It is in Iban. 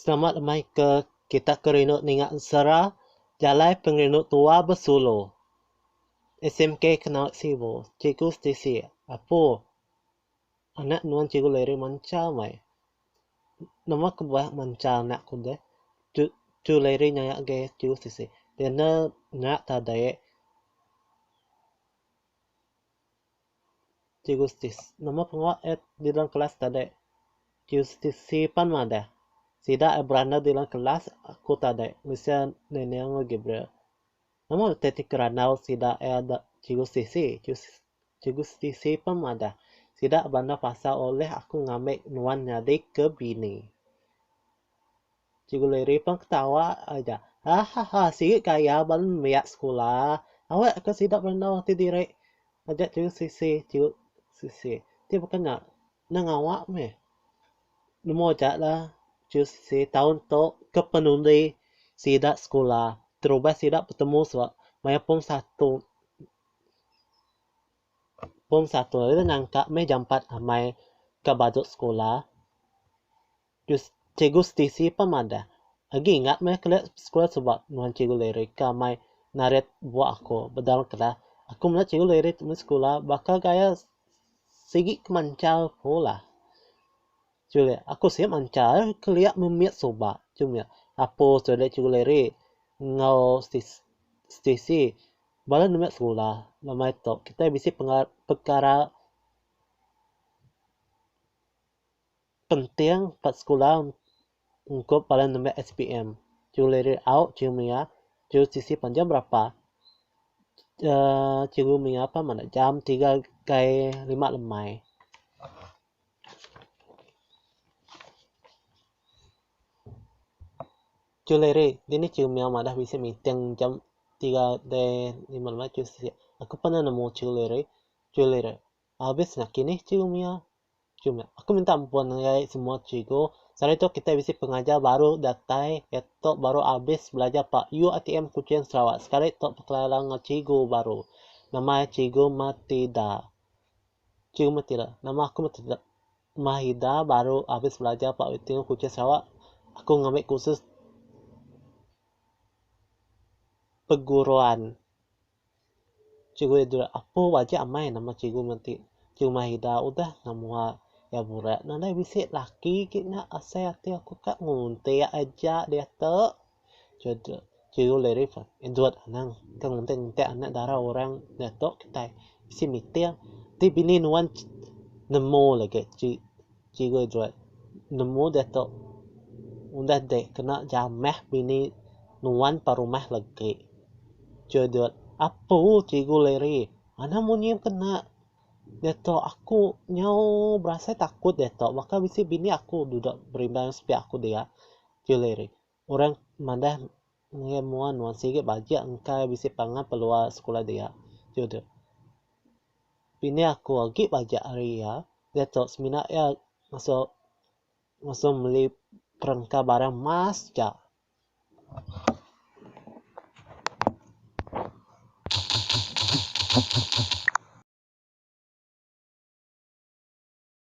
Selamat amai ke kita ke rindu ninga ensera jalai pengerindu tua besulu. SMK kena sibu cikgu setisi apu anak nuan cikgu Larry manca amai. Nama ke bak manca anak ku deh cikgu Larry nyaya agi cikgu setisi. Dia enda nyat tadi. Cikgu Stis. Nama pengawa et di dalam kelas tadi? Cikgu Stis. Sipan madah. Sida et berandau di dalam kelas aku tadi. Bisi Nening enggau Gabriel. Nama taktik randau sida et Cikgu Stisi? Cikgu Stis. Sipan madah. Sida berandau pasal ulih aku ngambi nuan nyadi ke bini. Cikgu Liri pun ketawa aja. Hahaha sigi ke iya ba nembiak sekula. Awak ke sida bereno ti diri aja cikgu Sisi cikgu Sisi. Ti baka nya nang awak meh. Nemu aja lah cikgu Sisi taun tu ke penundi sida sekula terubah sida betemu suba maya pung satu pung satu ida nyangka meh jampat amai ka badu sekula. Jus Cikgu Stacey pah madah, Agi ingat meh kelia sekula suba nuan Cikgu Larry ka mai narit buah aku bedal kelas. Aku meda Cikgu Larry tu meh sekula baka gaya sigi ke manchal ku lah. Julie, Aku siap manchal kelia memit suba. Jumie, Apo Julie Cikgu Larry enggau Stacey bala nembiak sekula lama ito kitai bisi pekara Penting ba sekula ungkup bala nembiak SPM. Cikgu Larry Auk, Cikgu Mia, Cikgu Sisi panjau berapa. Cikgu Mia pun madah jam tiga gai lima lemai. Cikgu Larry, dini Cikgu Mia madah bisi meeting jam tiga gai lima lemai. Cikgu Sisi, aku pernah nemu Cikgu Larry. Cikgu Larry, Abis nakinih cikgu Mia. Cikgu Mia, aku minta ampun ngagai semua cikgu. Sehari tu kitai bisi pengajar baru datai iya tu baru abis belajar ba UITM Kuching Sarawak sekali tu bekelala enggau cikgu baru nama iya cikgu Matida. Cikgu Matida, nama aku Matida. Mahida baru abis belajar ba UITM Kuching Sarawak. Aku ngambi kursus perguruan. Cikgu iya dura apuh aja amai nama cikgu meh ti. Cikgu Mahida udah ngah mua iya burak ne alai bisi laki agi nya asai ati aku ka nguntik aja diatu. Cikgu Lery pun ndudut anang ka nguntik nguntik anak dara orang diatu kitai bisi meeting ti bini nuan nemu lagi ti Cikgu Joy nemu diatu udah dek kena jamah bini nuan pa rumah legi. Judut, Apu Cikgu Larry, anak munyi kena diatu aku nyau berasai takut diatu baka bisi bini aku dudok berimbang sepiak aku dia. Cikgu Larry, Orang madah ngagai mua nuan sigi bajak engka iya bisi pangan peluang sekula dia. Jude. Pini aku agi bajak ari iya, diatu semina iya ngasu ngasu meli perengka barang mas ja.